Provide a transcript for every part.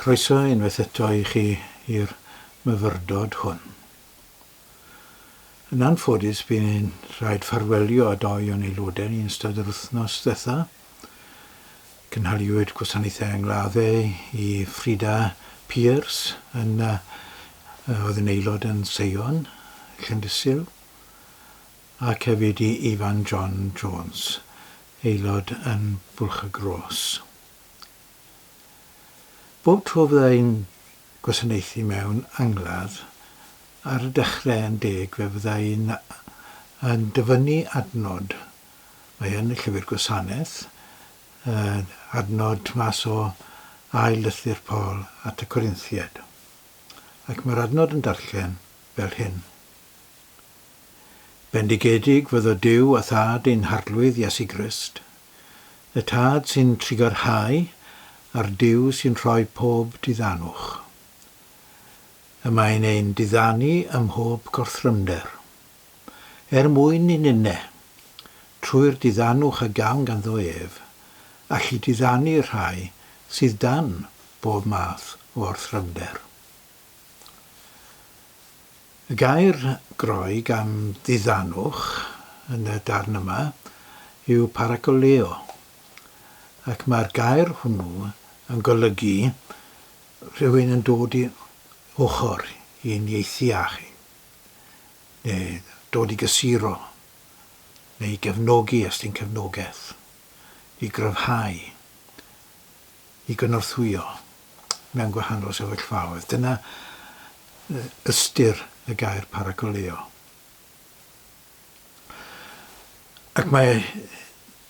Croeso unwaith eto i chi i'r myfyrdod hwn. Yn anffodus bu'n i'n rhaid ffarwelio â dou o'n aelodau yn ystod yr wythnos ddetha. Cynhaliwyd gwasanaethau angladdau i Frida Pierce yn oedd yn aelod yn Seion, Llandysul. ac hefyd i Ifan John Jones, aelod yn Bwlch-y-gros. Bob tro fydda i'n gwasanaethu mewn angladd, ar y dechrau yn deg, fe fydda i yn dyfynnu adnod, mae yn y Llyfr Gwasanaeth, adnod mas o Ail Lythyr Paul at y Corinthiaid, ac mae'r adnod yn darllen fel hyn. Bendigedig fyddo Duw a Thad ein Harglwydd Iesu Grist, y Tad sy'n trugarhau a'r Duw sy'n rhoi pob diddanwch. Y mae'n ein diddanu ym mhob gorthrymder. Er mwyn i ninne, trwy'r diddanwch a gawn ganddo ef, allu diddanu'r rhai sydd dan bob math o orthrymder. Y gair Groeg am ddiddanwch yn y darn yma yw parakaleo, ac mae'r gair hwnnw yn golygu rhywun yn dod i ochr i uniaethu â chi, neu dod i gysuro, neu i gefnogi os ti'n cefnogaeth, i gryfhau, i gynorthwyo mewn gwahanol sefyllfaoedd. Dyna ystyr y gair paragoleo. Ac mae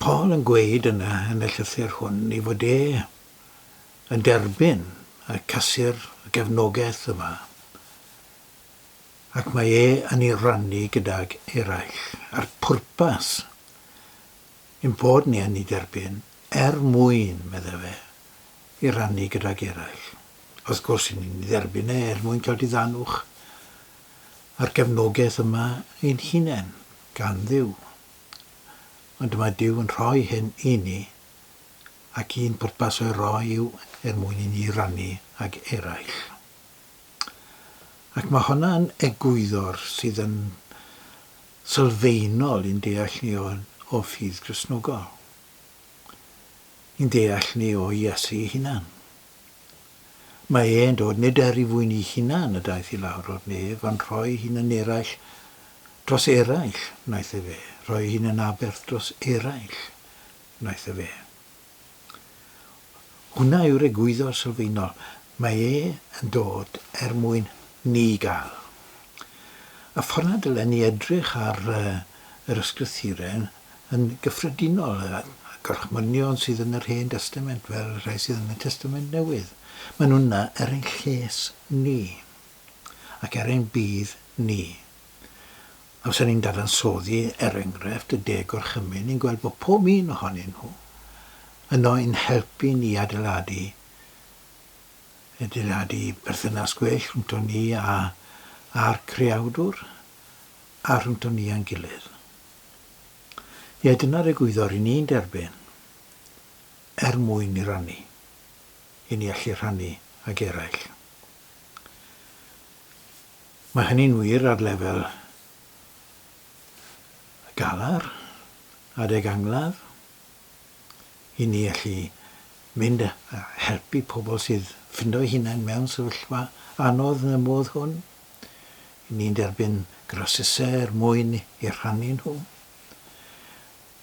Paul yn gweud yna yn y llythyr hwn i fod e yn derbyn y casur y gefnogaeth yma ac mae e yn ei rannu gydag eraill, a'r pwrpas Ein bod ni yn ei derbyn er mwyn, meddai fe, ei rannu gydag eraill. Wrth gwrs, ry'n ni'n ei dderbyn e er mwyn cael diddanwch a'r gefnogaeth yma ein hunain, gan Dduw. Ond mae Duw yn rhoi hyn i ni, ac un pwrpas o'i roi yw er mwyn i ni rannu ag eraill. Ac mae honna yn egwyddor sydd yn sylfaenol i'n deall ni o'n o ffydd Gristnogol, i'n deall ni o Iesu ei hunan. Mae e'n dod nid er i fwyni hunan y daeth i lawr o'r nef, ond rhoi hun yn eraill dros eraill wnaeth e fe, rhoi hun yn aberth dros eraill wnaeth e fe. Hwnna yw'r egwyddor sylfaenol. Mae e yn dod er mwyn ni gael. Y ffordd na dylen ni edrych ar yr Ysgrythuren yn gyffredinol, y gorchmynion sydd yn yr Hen Destament fel y rhai sydd yn y Testament Newydd, maen nhw'n yna er ein lles ni ac er ein budd ni. Amser ni'n dadansoddi, er enghraifft, y De Gorchymyn, ni'n gweld bod pob un ohonyn nhw yno i'n helpu ni i adeiladu adeiladu perthynas gwell rhwngton ni a a'r creawdwr a rhwngton ni a'n gilydd. Ie, dyna'r egwyddor i ni'n derbyn er mwyn i rannu, i ni allu rhannu ag eraill. Mae hynny'n wir ar lefel y galar, adeg angladd, i ni allu mynd a helpu pobl sydd ffindo'i hunain mewn sefyllfa anodd yn y modd hwn, i ni'n derbyn grasysau er mwyn eu rhannu nhw,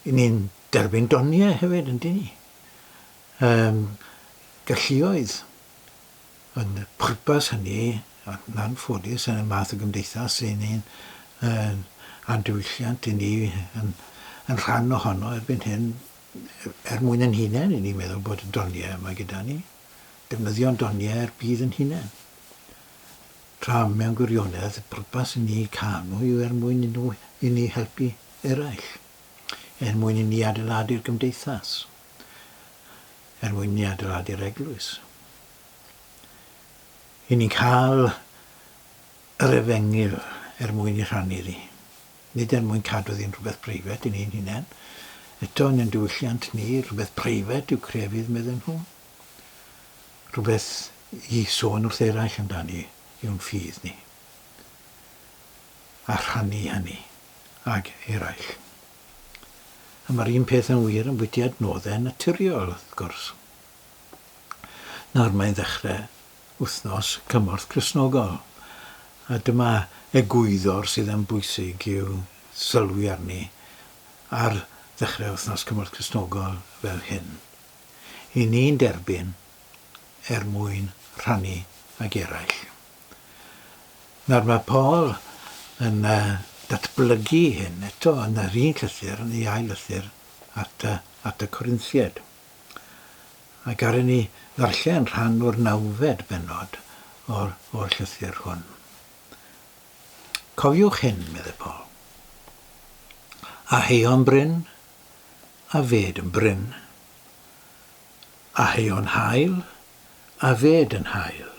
i ni'n derbyn doniau hefyd, yndyn ni? Yym, galluoedd. Ond y pwrpas hynny, yn anffodus, yn y math o gymdeithas ry'n ni'n a'n diwylliant i ni yn rhan ohono erbyn hyn, er mwyn ein hunain, ry'n ni'n meddwl bod y doniau yma gyda ni, defnyddio'n doniau'r byd yn hunain. Tra mewn gwirionedd, y pwrpas i ni canu yw er mwyn i ni helpu eraill, er mwyn i ni adeiladu'r gymdeithas. er mwyn ni adeiladu'r eglwys. I ni'n cael yr efengyl er mwyn i rhannu ddi. Nid er mwyn cadw ddi'n rhywbeth preifet i ni'n hunain. Eto, yn ein diwylliant ni, rhywbeth preifet yw crefydd, medden nhw. Rhywbeth i sôn wrth eraill amdani yw'n ffydd ni. A rhannu hynny ag eraill. A mae'r un peth yn wir am fudiad nodde naturiol, wrth gwrs. Nawr mae'n ddechrau wythnos cymorth Cristnogol, a dyma egwyddor sydd yn bwysig i'w sylwi arni ar ddechrau wythnos cymorth Cristnogol fel hyn. I ni'n derbyn er mwyn rhannu ag eraill. Nawr mae Paul yn datblygu hyn eto yn yr un llythyr, yn ei ail lythyr at y, at y Corinthiaid. A garen ni ddarllen rhan o'r nawfed bennod o'r, o'r llythyr hwn. Cofiwch hyn, meddai Paul. A heion bryn, a fed yn bryn. A heion hael, a fed yn hael.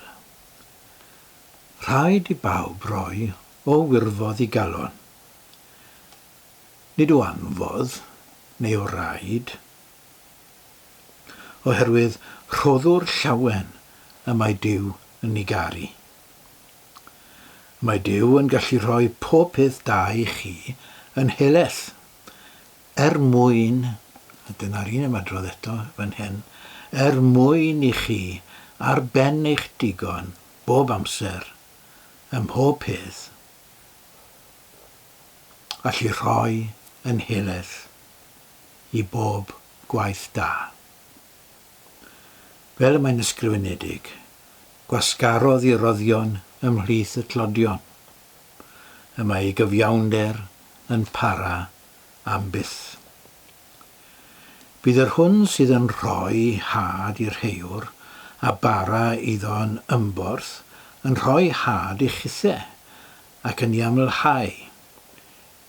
Rhaid i bawb roi o wirfodd i galon. Nid o anfodd, neu o raid. Oherwydd rhoddwr llawen y mae Duw yn ni garu. Mae Duw yn gallu rhoi pob peth da i chi yn heleth. Er mwyn, a dyna'r un ymadrodd eto fan hen, er mwyn i chi ar ben eich digon bob amser, ym mhob peth, allu rhoi yn nheledd i bob gwaith da. Fel y mae'n ysgrifenedig, gwasgarodd i roddion ymhlith y tlodion. Y mae ei gyfiawnder yn para am byth. Bydd yr hwn sydd yn rhoi had i'r rheiwr a bara iddo yn ymborth yn rhoi had i chithe, ac yn iamlhau.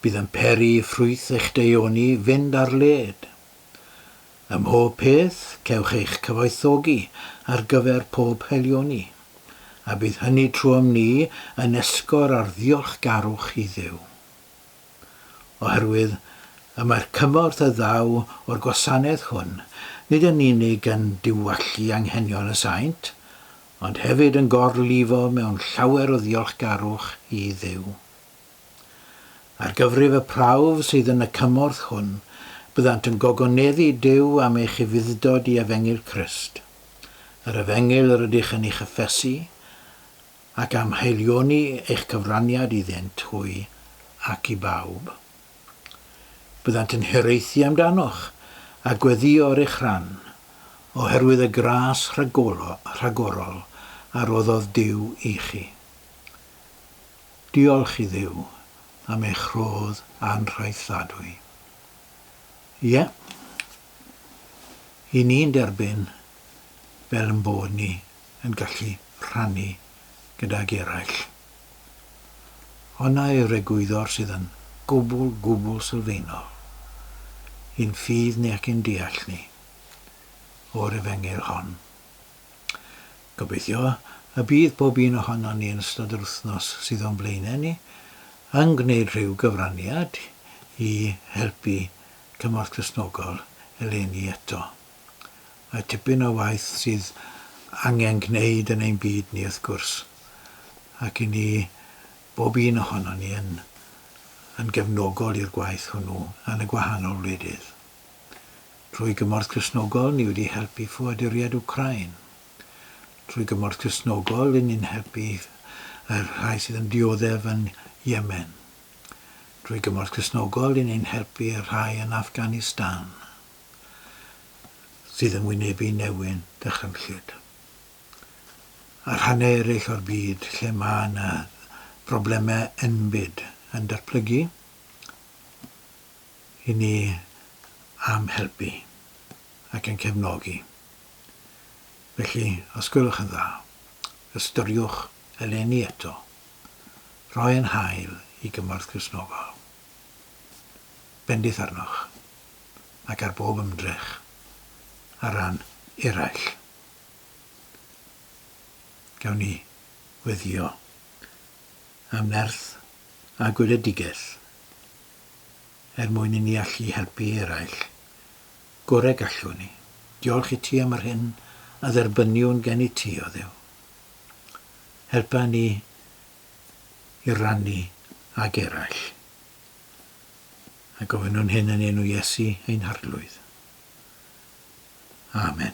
Bydd yn peri i ffrwyth eich deuoni fynd ar led. Ym mhob peth cewch eich cyfoethogi ar gyfer pob haelioni, a bydd hynny trwom ni yn esgor ar ddiolchgarwch i Dduw. oherwydd y mae'r cymorth a ddaw o'r gwasanaeth hwn nid yn unig yn diwallu anghenion y saint, ond hefyd yn gorlifo mewn llawer o ddiolchgarwch i Dduw. Ar gyfrif y prawf sydd yn y cymorth hwn, byddant yn gogoneddu Duw am eich ufuddod i efengyl Crist, yr efengyl rydych yn ei chyffesu, ac am haelioni eich cyfraniad iddynt hwy ac i bawb. Byddant yn hiraethu amdanoch a gweddïo ar eich rhan, oherwydd y gras rhagorol a roddodd Duw i chi. Diolch i Dduw am eich rhodd anhraethdadwy. Ie, i ni'n derbyn fel yn bod ni yn gallu rhannu gydag eraill. Honna yw'r egwyddor sydd yn gwbl, gwbl sylfaenol i'n ffydd ni ac i'n deall ni o'r Efengyl hon. Gobeithio y bydd pob un ohonon ni yn ystod yr wythnos sydd o'n blaenau ni yn gwneud rhyw gyfraniad i helpu Cymorth Cristnogol eleni eto. Mae tipyn o waith sydd angen gwneud yn ein byd ni wrth gwrs, ac i ni, bob un ohonon ni yn yn gefnogol i'r gwaith hwnnw yn y gwahanol wledydd. Trwy gymorth Cristnogol ni wedi helpu ffoaduriaid Wcráin. Trwy gymorth Cristnogol ry'n ni'n helpu y rhai sydd yn dioddef yn Yemen. Trwy gymorth Cristnogol ry'n ni'n helpu y rhai yn Afghanistan. sydd yn wynebu newyn dychrynllyd. A rhannau eraill o'r byd lle mae yna broblemau enbyd yn datblygu, i ni am helpu ac yn cefnogi. Felly, os gwelwch yn dda, ystyriwch eleni eto roi ein hael i gymorth Gristnogol bendith arnoch. ac ar bob ymdrech ar ran eraill. Gawn ni weddio am nerth a gweledigaeth er mwyn i ni allu helpu eraill gore gallwn ni. Diolch i ti am yr hyn a dderbyniwn gen i ti, o Dduw. Helpa ni i rannu ag eraill. A gofynnwn hyn yn enw Iesu ein Harglwydd. Amen.